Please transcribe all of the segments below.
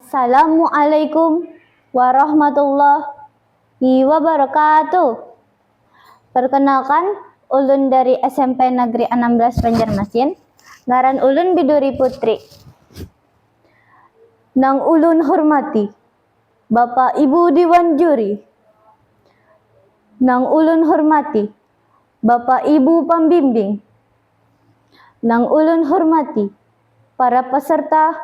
Salamu'alaikum warahmatullahi wabarakatuh. Perkenalkan, ulun dari smp Negeri anam belas Banjarmasin, ngaran ulun Biduri Putri. Nang ulun hormati Bapak Ibu Diwan Juri, nang ulun hormati Bapak Ibu Pambimbing, nang ulun hormati para peserta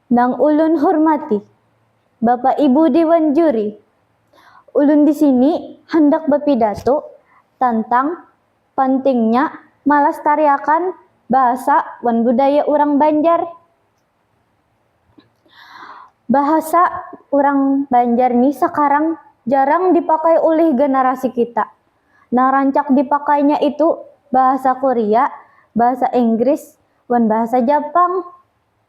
Nang ulun hurmati Bapak Ibu Dewan Juri, ulun di sini handak bapidato tantang pantingnya malastariakan bahasa wan budaya urang Banjar. Bahasa urang Banjar ni sakarang jarang dipakai ulih ganarasi kita. Nang rancak dipakainya itu bahasa Korea, bahasa Inggris, wan bahasa Japang.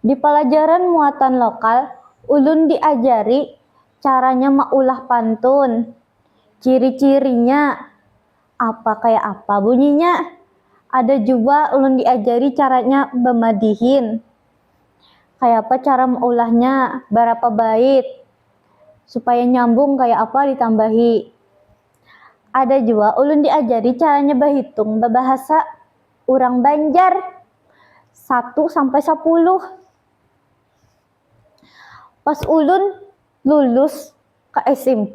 Di palajaran muatan lokal, ulun diajari caranya maulah pantun, ciri-cirinya, apa kaya apa bunyinya. Ada jua ulun diajari caranya bamadihin, kayapa cara maulahnya, barapa bait, supaya nyambung kaya apa ditambahi. Ada jua ulun diajari caranya bahitung babahasa. urang Banjar satu sampai sapuluh. Pas ulun lulus ka smp,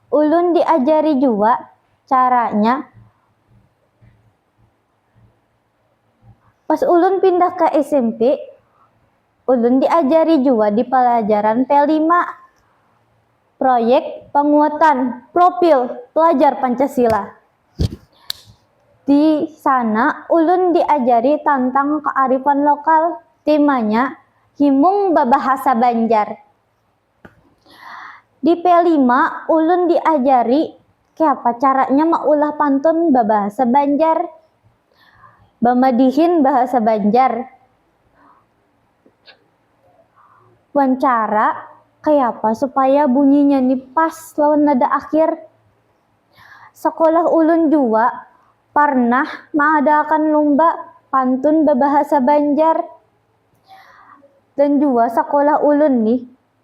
ulun diajari jua caranya, pas ulun pindah ka smp ulun diajari jua di palajaran p lima, proyek panguatan profil pelajar Pancasila. Di sana ulun diajari tantang kaarifan lokal, timanya himung babahasa banjar. Di P lima ulun diajari kayapa caranya maulah pantun babahasa banjar, bamadihin bahasa banjar wan cara kayapa supaya bunyinya ni pas lawan nada akhir. Sakolah ulun jua parnah maadaakan lumba pantun babahasa banjar. Dan jua sakolah ulun nih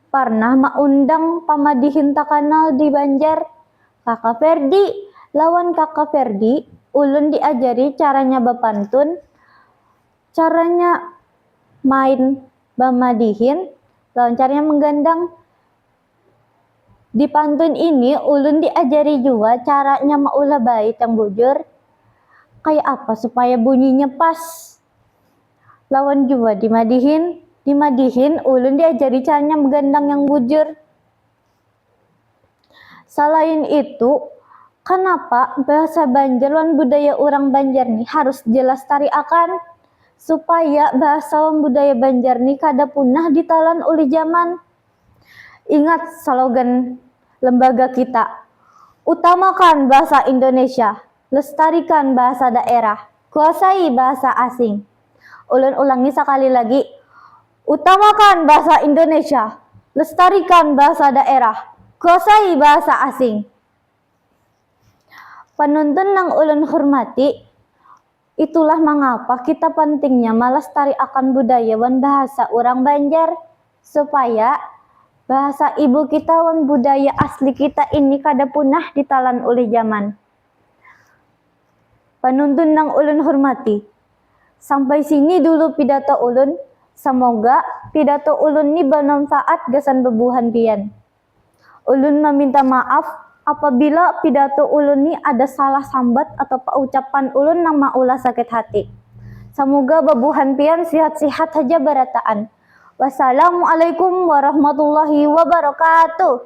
parnah maundang pamadihin takanal di banjar, kaka ferdi. Lawan kaka ferdi ulun diajari caranya bapantun, caranya main bamadihin, lawan caranya manggandang. Di pantun ini ulun diajari jua caranya maulah bait yang bujur kaya apa supaya bunyinya pas lawan jua dimadihin. Dimadihin ulun diajari caranya bagandang yang bujur. Salain itu kanapa bahasa banjar wan budaya urang banjar ni harus dilastariakan supaya bahasa wan budaya banjar ni kada punah ditalan ulih zaman. Ingat salogan lembaga kita, Utamakan Bahasa Indonesia, Lestarikan Bahasa Daerah, Kuasai Bahasa Asing. Ulun ulangi sakali lagi, Utamakan Bahasa Indonesia, Lestarikan Bahasa Daerah, Kuasai Bahasa Asing. Panuntun nang ulun hurmati. Itulah mangapa kita pantingnya malastari akan budaya wan bahasa urang Banjar supaya bahasa ibu kita wan budaya asli kita ini kada punah ditalan ulih zaman. Panuntun nang ulun hurmati, sampai sini dulu pidato ulun, samoga pidato ulun ni bamanfaat gasan babuhan pian. Ulun maminta maaf apabila pidato ulun ni ada salah sambat atau paucapan ulun nang maulah sakit hati. Samuga babuhan pian sihat-sihat haja barataan. Wassalamualaikum warahmatullahi wabarakatuh.